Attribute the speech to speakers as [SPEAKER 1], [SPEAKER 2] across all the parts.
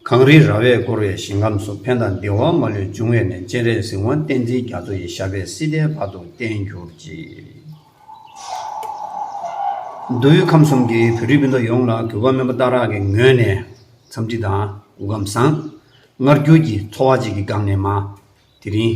[SPEAKER 1] གངས་རིའི་ར་བས་བསྐོར་བའི་ཞིང་ཁམས་སུ་ཕན་དང་བདེ་བ་མ་ལུས་འབྱུང་བས་ནས་སྤྱན་རས་གཟིགས་དབང་བསྟན་འཛིན་རྒྱ་མཚོ་ཡི་ཞབས་པད་སྲིད་མཐའི་བར་དུ་བརྟན་གྱུར་ཅིག། མདོ་དབུས་ཁམས་གསུམ་གྱི་བོད་རིགས་སྤུན་ཟླ་ཡོངས་ལ་གུས་པ་སྨོན་པ་བརྟག་རག་གི་ངོས་ནས་འཚམས་འདྲི་དང་གུས་ཁམས་བཟང། མངར་སྐྱུར་གྱིས་འཚོ་བ་གཅིག་གི་སྒམ་ནས་མ། དེ་རིང།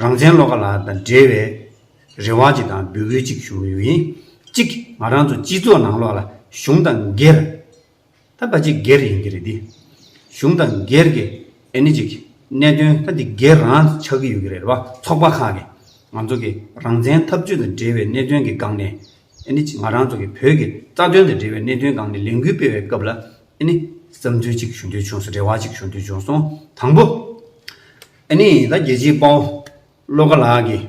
[SPEAKER 1] རང་བཙན་བློ་ཁ་ལ་དང་འབྲེལ་བའི་རེ་བ་ཅིག་དང་འབོད་སྐུལ་ཅིག་ཞུ་འོས་ཡིན། གཅིག་ང་རང་ཚོ་སྤྱི་ཚོགས་ནང་ལོགས་ལ་གཞུང་དང་སྒེར། ད་བ་ཅིག་སྒེར་ཡིན་གྱི་རེད་དེ། གཞུང་དང་སྒེར་གྱི་ཨེ་ནི་ཅིག་གནད་དོན་ད་འདི་སྒེར་རང་ཆགས་ཀྱི་ཡོད་གི་རེད་བ་ཚོགས་པ་ཁག་གི་ང་ཚོ་གི་རང་བཙན་འཐབ་བྱུས་དང་འབྲེལ་བའི་གནད་དོན་གྱི་སྒང་ནས་ཨེ་ནི་ཅིག་ང་རང་ཚོ་གི་བོད་ཀྱི་རྩ་དོན་དང་འབྲེལ་བའི་གནད་དོན་སྒང་ནས་ལས་འགུལ་སྤེལ་བའི་སྐབས་ལ་ཨེ་ནི་བསམ་ཚུལ་ཅིག་ཞུ་འདོད་བྱུང་སོང་རེ་བ་ཅིག་ཞུ་འདོད་བྱུང་སོང་དང་པོ། ཨེ་ནི་ད་རྒྱལ་སྤྱིའི་དཔའ་བོ་བློ་དགའ་ལགས་ཀྱིས་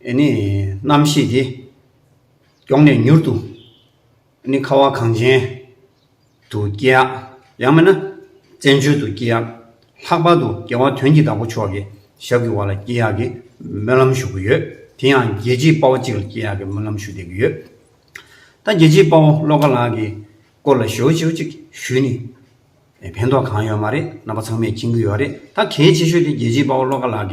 [SPEAKER 1] ཨེ་ནི་རྣམ་ཤེས་དེ་མགྱོགས་ནས་མྱུར་དུ་ཨེ་ནི་ཁ་བ་གངས་ཅན་དུ་སྐྱེལ་ཡག་ཡང་མེད་ན་བཙན་བྱོལ་དུ་སྐྱེལ་ཡག་ལྷག་པར་དུ་རྒྱལ་བ་དོན་གྱི་བདག་པོ་མཆོག་གི་ཞབས་ཀྱི་བར་ལ་སྐྱེལ་ཡག་གི་སྨོན་ལམ་ཞུ་གི་ཡོད་དེ་ཡང་རྒྱལ་སྤྱིའི་དཔའ་བོ་གཅིག་ལ་སྐྱེལ་ཡག་གི་སྨོན་ལམ་ཞུ་བསྡད་ཀྱི་ཡོད་ད་རྒྱལ་སྤྱིའི་དཔའ་བོ་བློ་དགའ་ལགས་ཀྱི་སྐོར་ལ་ཞེའུ་འཇེའུ་གཅིག་ཞུས་ནི། ཕན་ཐོགས་གང་ཡོད་མ་རེད་རྣམ་པ་ཚང་མས་མཁྱེན་གྱི་ཡོད་རེད་ད་གལ་ཆེ་ཤོས་དེ་རྒྱལ་གཅེས་དཔའ་བོ་བློ་དགའ་ལགས་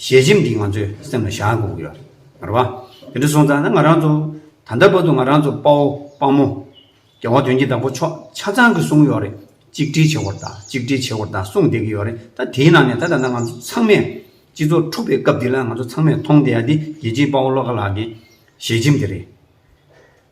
[SPEAKER 1] ཀྱི་ཞལ་ཆེམས་འདི་ང་ཚོའི་སེམས་ལ་བཞག་དགོས་ཀྱི་ཡོད་རེད་མ་རེད་དེ་འདྲ་སོང་ཙང་ན་ང་རང་ཚོ་ད་ལྟ་བར་དུ་ང་རང་ཚོ་དཔའ་བོ་དཔའ་མོ་རྒྱལ་བ་དོན་གྱི་བདག་པོ་མཆོག་ཆ་ཚང་གི་གསུང་ཡོད་རེད་གཅིག་སྒྲིལ་བྱེད་དགོས་རེད་ད་གཅིག་སྒྲིལ་བྱེད་དགོས་རེད་ད་གསུང་བསྡད་ཀྱི་ཡོད་རེད་ད་དེའི་ནང་ནས་ད་ད་ལྟ་ང་ཚོ་ཚང་མས་སྤྱི་ཚོགས་འཁྲུག་པའི་སྐབས་འདི་ལ་ང་ཚོ་ཚང་མས་མཐོང་བསྡད་ཡ་དེ་རྒྱལ་གཅེས་དཔའ་བོ་བློ་དགའ་ལགས་ཀྱི་ཞལ་ཆེམས་དེ་རེད།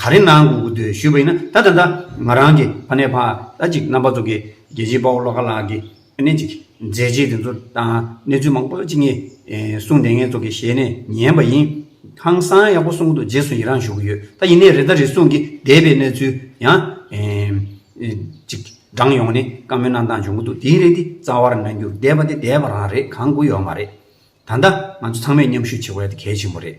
[SPEAKER 1] ག་རེ་གནང་དགོས་འདོད་ཞུས་པ་ཡིན་ན་ད་ད་ད་ང་རང་གི་ཕ་ནས་ཕ་ད་ཅིག་རྣམ་པ་ཚོ་གི་རྒྱལ་གཅེས་དཔའ་བོ་བློ་དགའ་ལགས་ཀྱི་ཨ་ནེ་ཅིག་མཛད་རྗེས་དེ་ཚོ་དང་གནས་ཚུལ་མང་པོ་ཅིག་ངས་གསུངས་དེ་ངེད་ཚོ་གི་ཞལ་ནས་ཉན་པ་ཡིན། ཧང་སང་ཡག་པོ་གསུངས་འདུག་རྗེས་སུ་ཡི་རངས་ཞུ་གི་ཡོད་ད་ཡིན་ནས་རེ་ད་རེ་ཟུང་གི་འདས་པའི་གནས་ཚུལ་ཡང་ཅིག་བགྲང་ཡོང་ནས་བཀའ་མོལ་གནང་སྟངས་བྱུང་གི་འདུག་དེའི་རེ་འདི་རྩ་བར་གནང་རྒྱུར་འདས་པ་དེ་འདས་པ་རང་རེད་གང་དགོས་ཡོད་མ་རེད་ད་ད་ང་ཚོ་ཚང་མས་མཉམ་ཞུགས་བྱེད་དགོས་ཡ་དེ་གལ་ཆེན་པོ་རེད།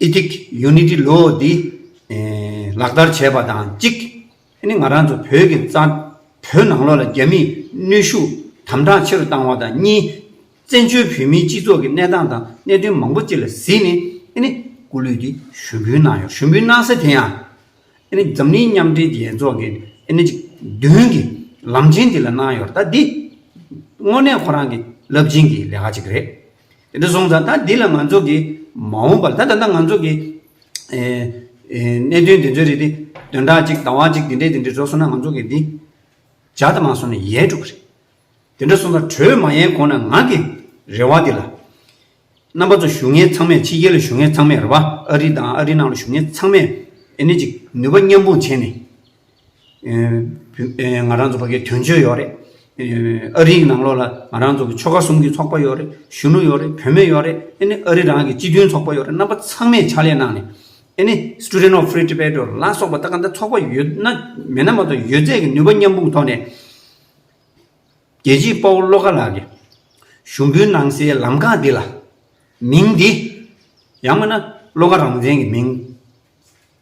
[SPEAKER 1] Etic Unity Law། འདི་ལག་བསྟར་བྱས་པ་དང་གཅིག་ང་རང་ཚོ་བོད་ཀྱི་རྩ་བོད་ནང་ལོགས་ལ་རྒྱ་མིས་གནོད་ཤུགས་དམ་དྲག་ཆེ་རུ་བཏང་བ་དང་གཉིས། བཙན་བྱོལ་བོད་མིའི་སྤྱི་ཚོགས་ཀྱི་གནས་སྟངས་དང་གནད་དོན་མང་པོ་གཅིག་ལ་གཟིགས་ནས་སྐུ་ལུས་འདི་ཞུ་འབུལ་གནང་ཡོད། ཞུ་འབུལ་གནང་ས་དེ་ཡང་འཛམ་གླིང་མཉམ་འབྲེལ་རྒྱལ་ཚོགས་ཀྱི་མདུན་གྱི་ལམ་ཆེན་འདི་ལ་གནང་ཡོད། ད་འདི་དངོས་གནས་ཁོ་རང་གི་རླབས་ཆེན་གྱི་ལས་ཀ་གཅིག་རེད། དེ་འདྲ་སོང་ཙང་ད་འདི་ལ་ང་ཚོ་གིས་མ་འོངས་པར་ད་ད་ལྟ་ང་ཚོ་གིས་གནད་དོན་འདི་ཚོའི་རིགས་དེ་དོན་དག་ཅིག་དང་བ་ཅིག་འདི་འདྲས་འདི་འདྲས་བཟོ་སོང་ན་ང་ཚོ་གིས་འདི་ཇག་དམག་སོང་ནས་ཡལ་འགྲོ་གི་རེད། དེ་འདྲ་སོང་ཙང་གྲོས་མ་ཡལ་གོང་ན་ང་གིས་རེ་བ་འདི་ལ། རྣམ་པ་ཚོ་བཞུགས་ངེས་ཚང་མས་ཕྱི་རྒྱལ་ལ་བཞུགས་ངེས་ཚང་མས་རེ་བ་ཨ་རི་དང་ཨ་རི་ནང་ལ་བཞུགས་ངེས་ཚང་མས་ཨེ་ནི་ཅིག་ནུས་པ་མཉམ་སྤུངས་བྱས་ནས། ང་རང་ཚོ་བྷ་གའི་དོན་གཅོད་ཡོད་རེད། ཨ་རིའི་ནང་ལོགས་ལ་ང་རང་ཚོ་ཆོལ་ཁ་གསུམ་གྱི་ཚོགས་པ་ཡོད་རེད། གཞོན་ནུ་ཡོད་རེད་བུད་མེད་ཡོད་རེད་ཨེ་ནི་ཨ་རི་རང་གི་སྤྱི་མཐུན་ཚོགས་པ་ཡོད་རེད་རྣམ་པ་ཚང་མས་ཕྱག་ལས་གནང་ནས་ཨེ་ནི Student of Free Tibet འོ་ལ་སོགས་པ་ད་ག་འདྲ་ཚོགས་པ་ཡོད་ན་མེད་ན་མ་གཏོགས་ཡོད་ཚད་ཀྱི་ནུས་པ་མཉམ་སྤུངས་ཐོག་ནས། རྒྱལ་གཅེས་དཔའ་བོ་བློ་དགའ་ལགས་ཀྱི་ཞུ་འབུལ་གནང་སའི་ལམ་ཁ་འདི་ལ། མིང་འདི། ཡང་མིན་ན་བློ་དགའ་རང་བཙན་གྱི་མིང།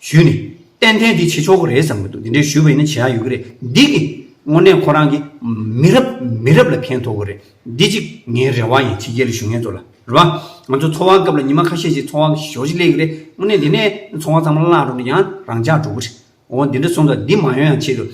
[SPEAKER 1] ཞུས་ནས། ཏན་ཏན་འདི་བྱེད་ཆོག་གི་རེད་བསམ་གྱི་འདུག་འདི་འདྲའི་ཞུས་པ་ཡིན་ན་བྱེད་ཡག་ཡོད་ཀྱི་རེད། འདི་གི། དངོས་གནས་ཁོ་རང་གིས། མི་རབས་མི་རབས་ལ་ཕན་ཐོག་གི་རེད། འདི་གཅིག་ངའི་རེ་བ་ཡིན་ཕྱི་རྒྱལ་ལ་ཞུ་མཁན་ཚོ་ལ། རེད་བ། ང་ཚོ་འཚོ་བ་སྐབས་ལ་ཉི་མ་ཁ་ཤས་ཤིག་འཚོ་བ་ཞོག་ཅིག་ལེགས་ཀྱི་རེད། དངོས་གནས་འདི་ནས་འཚོ་བ་ཚང་མ་བརླག་འགྲོ་ན་ཡང་རང་འཇགས་འགྲོ་གི་རེད། འོ་འདི་འདྲ་གསུངས་ཙང་འདི་མ་ཡོང་ཡང་ཆེད་དུ།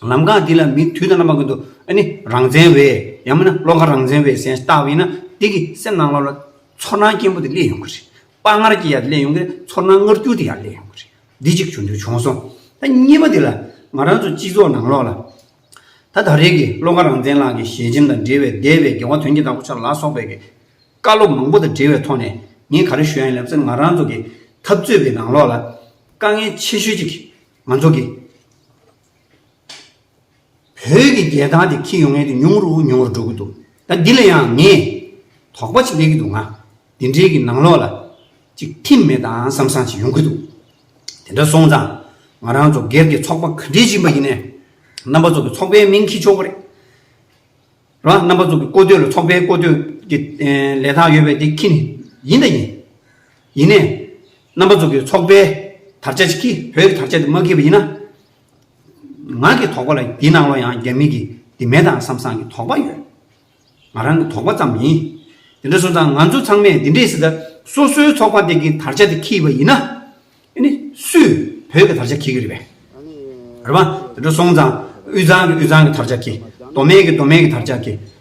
[SPEAKER 1] ལམ་ཁ་འདི་ལ་མི་དུས་ད་ན་མ་གི་འདུག་ཨ་ནི་རང་བཙན་བས། ཡང་མིན་ན་བློ་ཁ་རང་བཙན་བས་སེམས་བཏགས་པ་ཡིན་ན། འདི་གི་སེམས་ནང་ལོགས་ལ། ཚོར་སྣང་སྐྱེན་པོ་དེ་སླེབས་ཡོང་གི་རེད། དཔའ་ངར་གྱིས་ཡར་གླེང་ཡོང་གི་ཚོར་སྣང་ངར་སྐྱུར་དེ་ཡར་གླེང་ཡོང་གི་རེད། འདི་གཅིག་བྱུང་དུས་བྱུང་སོང། ད་གཉིས་པ་འདི་ལ། ང་རང་ཚོ་སྤྱི་ཚོགས་ནང་ལོགས་ལ། ད་ད་རེས་ཀྱི་བློ་དགའ་རང་བཙན་ལགས་ཀྱི་ཞལ་ཆེམས་དང་འབྲེལ་བའི་འདས་པའི་དགེ་བ་དོན་གྱི་བདག་པོ་ཆགས་ལ་སོགས་པའི་བཀའ་སློབ་མང་པོ་དང་འབྲེལ་བའི་ཐོག་ནས་ངས་ག་རེ་ཞུ་ཡང་ཡིན་ལབ་ཚེ་ང་རང་ཚོ་གི་འཐབ་རྩོད་པའི་ནང་ལོགས་ལ། དཀའ་ངལ་ཆེ་ཤོས་གཅིག་གིས་ང་ཚོ་གི། བོད་ཀྱི་རྒྱལ་ཐང་དེ་འཁྱིལ་ཡོང་ངེས་དེ་ཉུང་རུ་ཉུང་རུ་འགྲོ་གི་འདུག་ད་འདི་ལ་ཡང་ངས་དོགས་པ་ཅིག་སླེབས་ཀྱི་འདུག་ང་འདི་འདྲའི་གི་ནང་ལོགས་ལ་ཅིག་ཐིམ་མེད་དང་བསམ་བསམ་ཅིག་ཡོང་གི་འདུག་དེ་འདྲ་སོང་ཙང་ང་རང་ཚོ་སྒེར་གྱི་ཚོགས་པ་ག་འདྲས་ཡིན་པ་ཡིན་ནས་རྣམ་པ་ཚོ་གི་ཚོགས་པའི་མིང་འཁྱིལ་ཆོག་གི་རེད་ར་རྣམ་པ་ཚོ་གི་བཀོད་སྡོད་ལ་ཚོགས་པའི་བཀོད་སྡོད་ཀྱི་ལས་ཐང་ཡོད་པའི་དེ་འཁྱིལ་ནས་ཡིན་ད་ཡིན་ཡིན་ནས་རྣམ་པ་ཚོ་གི་ཚོགས་པའི་དར་ཆ་ཅིག་འཁྱིལ་བོད་ཀྱི་དར་ཆ་དེ་མ་འཁྱིལ་བ་ཡིན་ན། ང་གི་དོགས་པ་ལ་འདི་ནང་ལོ་ཡང་རྒྱ་མི་གི་འདི་མེད་དང་བསམ་བསམ་གི་དོགས་པ་ཡོད། ང་རང་གི་དོགས་པ་ཙམ་ཡིན། དེ་འདྲ་སོང་ཙང་ང་ཚོ་ཚང་མས་འདི་འདྲའི་སི་ཏཱ་སོ་སོའི་ཚོགས་པ་དེ་གི་དར་ཆ་དེ་ཁྱིས་པ་ཡིན་ན། དེ་ནི་སུས་བོད་གི་དར་ཆ་ཁྱི་གི་རེད་པས། རེད་བ། དེ་འདྲ་སོང་ཙང་དབུས་གཙང་གི་དབུས་གཙང་གི་དར་ཆ་ཁྱི། མདོ་སྨད་གི་མདོ་སྨད་གི་དར་ཆ་ཁྱི།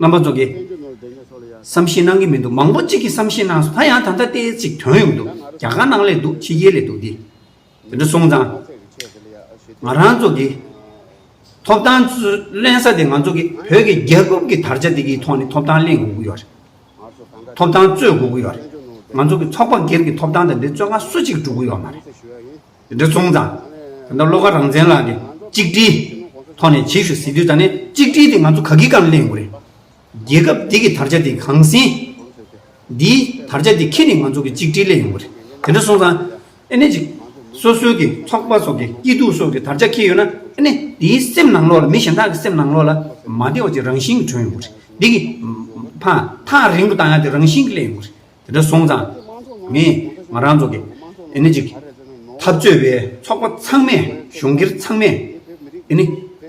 [SPEAKER 1] རྣམ་པ་རྫོགས། བསམ་ཤེས་གནང་གི་མི་འདུག་མང་པོ་གཅིག་གིས་བསམ་ཤེས་གནང་སོང་ད་ཡང་ད་ལྟ་ལྟས་ཅིག་དོན་ཡོང་འདུག་རྒྱ་གར་ནང་ལས་འདུག་ཕྱི་རྒྱལ་ལས་འདུག་འདི། དེ་འདྲ་སོང་ཙང། ང་རང་ཚོ་གི། ཐོབ་ཐང་གླེང་ས་དེ་ང་ཚོ་གི་བོད་ཀྱི་རྒྱལ་ཁབ་ཀྱི་དར་ཆ་དེ་གི་ཐོག་ནས་ཐོབ་ཐང་གླེང་དགོས་ཀྱི་ཡོད་རེད། ཐོབ་ཐང་རྩོད་དགོས་ཀྱི་ཡོད་རེད། ང་ཚོ་གི་ཚོགས་པ་སྒེར་གྱི་ཐོབ་ཐང་དེ་འདྲའི་རྩོད་ཁང་སུ་གཅིག་གིས་སྒྲུབ་ཀྱི་ཡོད་མ་རེད། འདི་ཚོང་དང། ད་ལྟ་བློ་ཁ་རང་བཙན་ལགས་ཀྱི་གཅིག་སྒྲིལ། ཐོག་ནས་བྱེད་ཞུ་ཟེར་དུས་ད་ནས་གཅིག་སྒྲིལ་དེ་ང་ཚོ་ག་གི་གང་གླེང་དགོས་རེད། རྒྱལ་ཁབ་འདི་གི་དར་ཆ་དེ་གང་ཟིན། འདིའི་དར་ཆ་དེ་ཁྱེད་ནས་ང་ཚོ་གི་གཅིག་སྒྲིལ་གླེང་ཡོང་གི་རེད། དེ་འདྲ་སོང་ཙང། ཨེ་ནས་ཅིག། སོ་སོའི་གི་ཚོགས་པ་སོགས་ཀྱི་སྐྱིད་སྡུག་སོགས་ཀྱི་དར་ཆ་ཁྱེར་ཡོད་ན། ཨེ་ནས་དེའི་སེམས་ནང་ལོག་ལ་མི་གཞན་དག་གི་སེམས་ནང་ལོག་ལ་མ་བདེ་བ་ཅིག་རང་བཞིན་གྱི་བྱུང་ཡོང་གི་རེད། འདི་གི། ཕ། ཐག་རིང་པོ་བཏང་ཡག་དེ་རང་བཞིན་གྱི་གླེང་ཡོང་གི་རེད། དེ་འདྲ་སོང་ཙང་ངས་ང་རང་ཚོ་གི་འདི་ནི་ཅིག་འཐབ་རྩོད་པའི་ཚོགས་པ་ཚང་མས་གཞུང་སྒེར་ཚང་མས་འདི་ནི་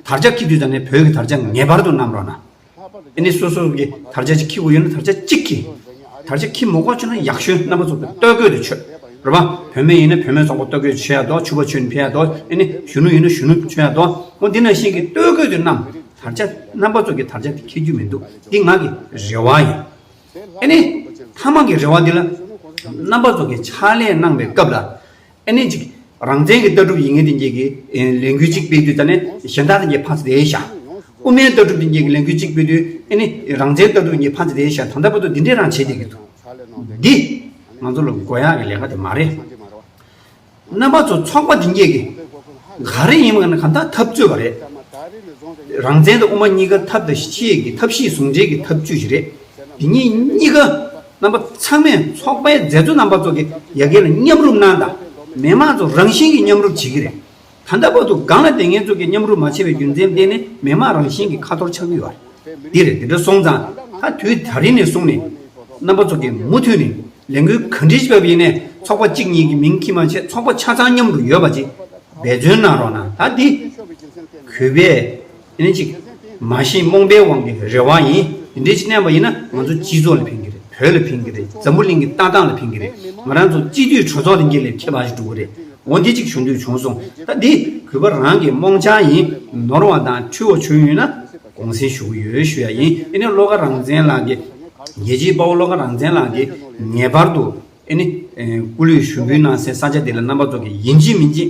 [SPEAKER 1] དར་ཆ་འཁྱིག་དུས་ཙང་ནས་བོད་ཀྱི་དར་ཆ་ངེས་པར་དུ་བསྣམས་རོགས་གནང། འདི་ནི་སོ་སོ་གི་དར་ཆ་ཅིག་འཁྱིག་གོ་ཡོད་ན་དར་ཆ་གཅིག་འཁྱིག། དར་ཆ་འཁྱིག་མོ་གོ་ཆོད་ན་ཡག་ཤོས་རྣམ་པ་ཚོ་བོད་སྟོད་གོས་དུ་ཆོད་རོགས་པ་བོད་མི་ཡིན་ན་བོད་མི་ཚོགས་པ་སྟོད་གོས་ཆོད་ཡག་དོ་ཕྱུ་བ་ཆོད་ནི་ཕྱུ་ཡག་དོ་འདི་ནི་གཞོན་ནུ་ཡིན་ན་གཞོན་ནུ་ཆོད་ཡག་དོ་མོ་འདི་ནང་བཞིན་གྱི་སྟོད་གོས་དུ་བསྣམས་དར་ཆ་རྣམ་པ་ཚོ་གི་དར་ཆ་དེ་འཁྱིག་རྒྱུ་མི་འདུག་འདི་ང་གི་རེ་བ་ཡིན། ཨེ་ནས། ཐ་མག་གི་རེ་བ་འདི་ལ། རྣམ་པ་ཚོགས་ཀྱི་ཕྱག་ལས་གནང་བའི་སྐབས་ལ། ཨེ་ནས་ཅིག། རང་བཙན་གྱི་ལྟ་གྲུབ་ཡིན་ངེས་དེ་འགྱེད་ཀྱི། ལས་འགུལ་ཅིག་སྤེལ་དུས་ད་ནས་གཞན་དག་དེ་འགྱེད་ཕངས་ཚེ་དེའི་ཞག། དབུ་མའི་ལྟ་གྲུབ་དེ་འགྱེད་ཀྱི་ལས་འགུལ་ཅིག་སྤེལ་དུས་ཨེ་ནས། རང་བཙན་ལྟ་གྲུབ་འགྱེད་ཕངས་ཚེ་དེའི་ཞག་ད་ལྟ་བར་དུ་འདི་འདྲའི་རང་བྱེད་དེ་གི་འདུག་འདི། ང་ཚོ་ལ་དགོས་ཡག་གི་ལས་ཀ་དེ་མ་རེད། རྣམ་པ་ཚོ་ཚོགས་པ་འདི་གཉིས་ཀྱིས་ག་རེ་ཡིན་མིན་གང་ཐག་ཐབས་རྩོད་པ་རེད། རང་བཙན་དང་དབུ་མ་གཉིས་ཀ་ཐབས་དང་ཤེས་ཀྱི་ཐབས་ཤེས་ཟུང་འབྲེལ་གྱི་ཐབས་བྱུས་ཤིག་རེད། འདི་གཉིས་གཉིས་ཀ་རྣམ་པ་ཚང་མས་ཚོགས་པའི་མཛད་གཙོ་རྣམ་པ་ཚོ་གི་ཡ་གྱལ་ལ་མཉམ་རུབ་གནང་དང་མི་དམངས་ཚོ་རང་བཞིན་གྱིས་མཉམ་རུབ་བྱེད་ཀྱི་རེད། ད་ལྟ་བར་དུ་སྒང་ལ་ལྟས་ངན་ཚོགས་ཀྱི་མཉམ་རུབ་མ་བྱས་པའི་རྒྱུ་མཚན་བསྟན་ནས་མི་དམངས་རང་བཞིན་གྱི་ཁ་ཐོར་ཆགས་ཀྱི་ཡོད། འདི་རེད་དེ་འདྲ་སོང་ཙང་ད་དུས་ད་རིང་ནས་བཟུང་ནས། རྣམ་པ་ཚོགས་ཀྱིས་མུ་མཐུད་ནས་ལས་འགུལ་ག་འདྲིས་བྱེད་པ་ཡིན་ནས་ཚོགས་པ་གཅིག་གཉིས་ཀྱི་མིང་ཁྱི་མ་བྱེད་ཚོགས་པ་ཆ་ཚང་མཉམ་དུ་ཡོད་པ་ཅིག་འབད་བརྩོན་གནང་རོགས་གནང་ད་འདི། གུས་པས། ལན་ཅིག། མ་གཞི་རྨོངས་པའི་དབང་གིས་རེ་བ་ཡིན། དེ་འདྲའི་བྱེད་ནས་པ་ཡིན་ན་ང་ཚོ་སྤྱི་ཚོགས་ལ་ཕན་གྱི་རེད་བོད་ལ་ཕན་གྱི་རེད་འཛམ་བུ་གླིང་གི་ལྟ་སྟངས་ལ་ཕན་གྱི་རེད་ང་རང་ཚོ་སྤྱི་འཐུས་གྲོས་ཚོགས་ལ་འགྱེལ་ལས་ཁྱད་འཕགས་ཤིག་འགྲོ་གི་རེད་འོ་འདི་ཅིག་ཞུ་འདོད་བྱུང་སོང་ད་འདི་གུས་པ་རང་གི་རྨོངས་འཆར་ཡིན་ནོར་བ་དང་འཁྲུལ་བ་བྱུང་ཡོད་ན་དགོངས་སེལ་ཞུ་གི་ཡོད་ཞུ་ཡ་ཡིན་ཨེ་ནི་བློ་དགའ་རང་བཙན་ལགས་ཀྱི་རྒྱལ་སྤྱིའི་དཔའ་བོ་བློ་དགའ་རང་བཙན་ལགས་ཀྱི་ངེས་པར་དུ་ཨེ་ནི་སྐུ་ལུས་ཞུ་འབུལ་གནང་སའི་ས་ཆ་འདི་ལ་རྣམ་པ་ཚོ་གི་ཡིན་གཅིག་མིན་གཅིག